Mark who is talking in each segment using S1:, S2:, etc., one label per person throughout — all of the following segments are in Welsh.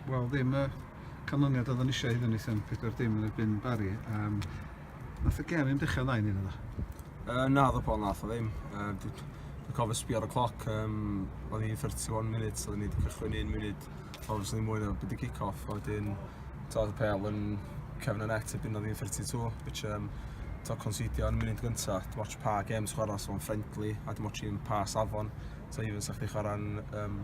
S1: Wel ddim y canlyniad oeddwn eisiau iddyn ni sy'n 4 dim yn erbyn Barry. Um, nath y gem i'n dechrau dda i ni yna? Uh, na, ddo Paul,
S2: nath o ddim. Uh, Dwi'n cofio sbio ar y cloc, um, oedd hi'n 31 munud, oedd ni wedi cychwyn un munud, obviously mwy na byd y kick-off, a wedyn, oedd y pel yn cefn y net, y byn oedd hi'n 32, which, um, to considio yn y munud gyntaf, dim ots pa games chwarae, so o'n friendly, a dim ots i'n pa safon, so even sa'ch di chwarae'n um,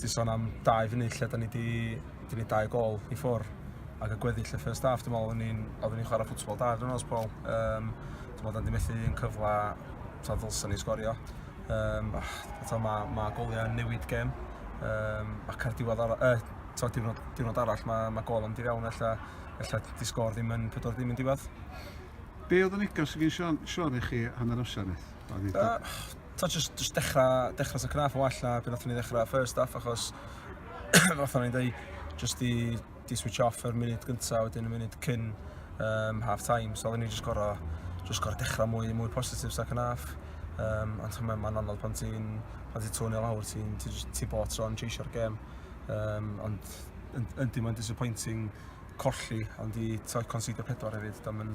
S2: Ti'n son am dau funud lle da ni di, di ni dau gol i ffwr ac y gweddill y first half, dwi'n meddwl oedden ni'n oedden ni chwarae ffwtsbol da dwi'n meddwl, Paul. Um, dwi'n meddwl oedden ni methu yn cyfle ta ddylsa ni sgorio. Um, ta, mae, mae goliau yn newid gem. Um, ac ar diwedd arall, uh, ta, diwrnod, diwrnod arall mae, mae gol yn diriawn efallai, efallai di sgor ddim yn 40 ddim yn diwedd. Be oedd
S1: y negas sy'n gen Siori chi hanner amser neth? t'o' jyst jyst
S2: dechra dechra tipyn bach yn well na be' nathon ni ddechra first off achos fel o'n i'n deu' jyst i di switch off yr munud gynta' wedyn y munud cyn um, half time so oedden ni jyst gor'o' jyst gor'o' dechra mwy mwy positif second half um, ond ti'n meddwl mae'n anodd pan ti'n pan ti'n tŵnio lawr ti'n ti, ti bod tro'n cheisio'r gêm um, ond yndi mae'n disappointing colli ond i t'o' conceidio pedwar hefyd da ma'n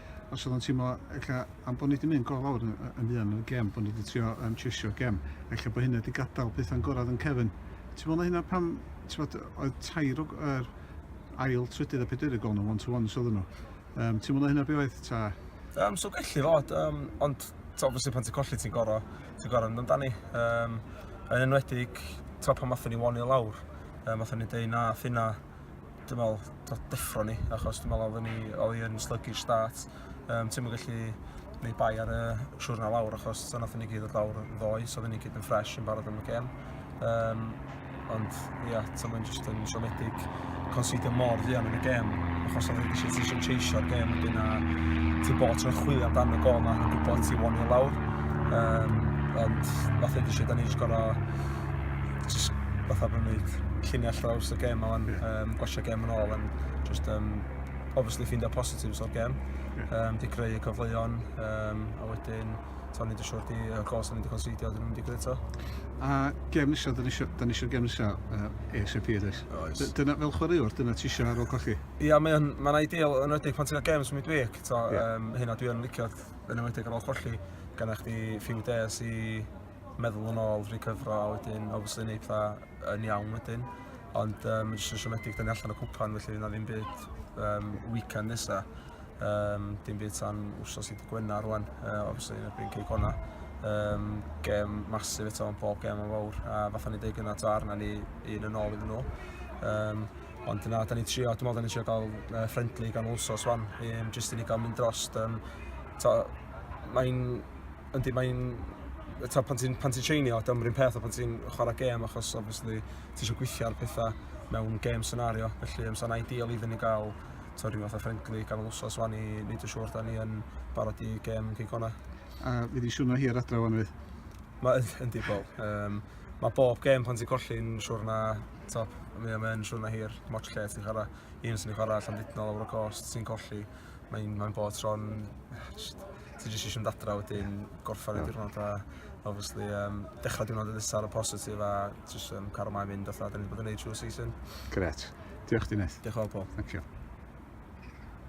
S1: os oedd o'n teimlo ella am bod ni wedi mynd go lawr yn, yn fuan yn y gem, bod ni wedi trio um, chesio gem, ella bod hynna wedi gadael pethau'n gorau yn Kevin. Ti'n meddwl na hynna pam, ti'n bod, oedd tair o er, ail, trydydd a pedwerydd gol nhw, one-to-ones oedd nhw. Um, ti'n meddwl na hynna be oedd ta? Um, so gallu
S2: fod, um, ond obviously pan ti'n colli ti'n gorau, ti'n gorau yn amdani. Um, yn enwedig, ti'n pan mathon ni wani lawr, um, mathon ni dweud na, ffina, dwi'n meddwl, dod deffro ni, achos dwi'n meddwl oedden ni, oedd hi'n sluggish start. Um, ti'n mynd gallu gwneud bai ar y siwrna lawr, achos so nath ni gyd o'r lawr yn ddoe, so oedden ni gyd yn ffres yn barod am y gem. Um, ond, ia, yeah, ti'n mynd jyst yn siomedig considio mor fuan yn y gem, achos oedd wedi eisiau eisiau cheisio'r gem wedyn a ti bod ti'n chwilio amdano gol na yn gwybod ti won i lawr. Um, ond, fath o eisiau, da ni eisiau gorau jyst fatha bod nhw'n gwneud lluniau llaws y gem o'n yeah. um, gwasio gem yn ôl, and just um, obviously ffindio positives o'r gem, yeah. um, di creu y cyfleon, um, a wedyn to ni wedi siwr di y gol sy'n wedi considio, dyn nhw'n wedi gwneud to. A
S1: gem nisio, dyn ni eisiau gem nisio uh, ASAP ydych. Oes. Dyna fel chwaraewr, dyna ti eisiau ar ôl colli? Ia, mae'n ma
S2: ideal yn wedi'i pan ti'n cael games midweek, to, yeah. um, hyn a dwi'n licio yn wedi'i ar ôl colli, gan eich di few days i meddwl yn ôl, recyfro a wedyn obviously neud pethau yn iawn wedyn. Ond um, mae jyst yn siomedig, da ni allan o cwpan, felly na ddim byd um, weekend nesa. Um, dim byd tan wrsos i Gwena rwan, uh, obviously yn erbyn Cei Cona. Um, gem masif eto yn bob gem yn fawr, a fatha ni dweud gyda to arna ni un yn ôl iddyn nhw. Um, Ond dyna, da ni'n trio, dwi'n meddwl da ni'n trio gael uh, friendly gan Wolsos wan, um, jyst i ni gael mynd dros. Um, Mae'n Yndi, mae'n... Eto, pan ti'n pan ti treinio, dyna'n rhywun peth o pan ti'n chwarae gêm, achos obviously ti eisiau gweithio ar pethau mewn gêm senario, felly um, sa'n ideal iddyn ni gael to, rhyw fath o ffrengli ganol wsos fan i wneud yn siŵr da ni yn barod i gêm yn Cigona. A fi wedi
S1: siwrno hir adra fan fi. Mae yndi,
S2: Paul. Um, mae bob gêm pan ti'n colli'n siwr na top, mae o'n siwr na hir, mor lle ti'n chwarae, un sy'n ei chwarae allan dydnol o'r gost sy'n colli, mae'n mae bod tro'n ti jyst eisiau mynd adra wedyn, gorffen y diwrnod a obviously um, dechrau diwrnod yn nesaf ar y positif a jyst um, cael ymlaen mynd fatha, da
S1: ni wedi
S2: bod yn neud
S1: trwy'r
S2: season. Gret. Diolch
S1: Dineth.
S2: Diolch yn fawr
S1: Paul.
S2: Thank you.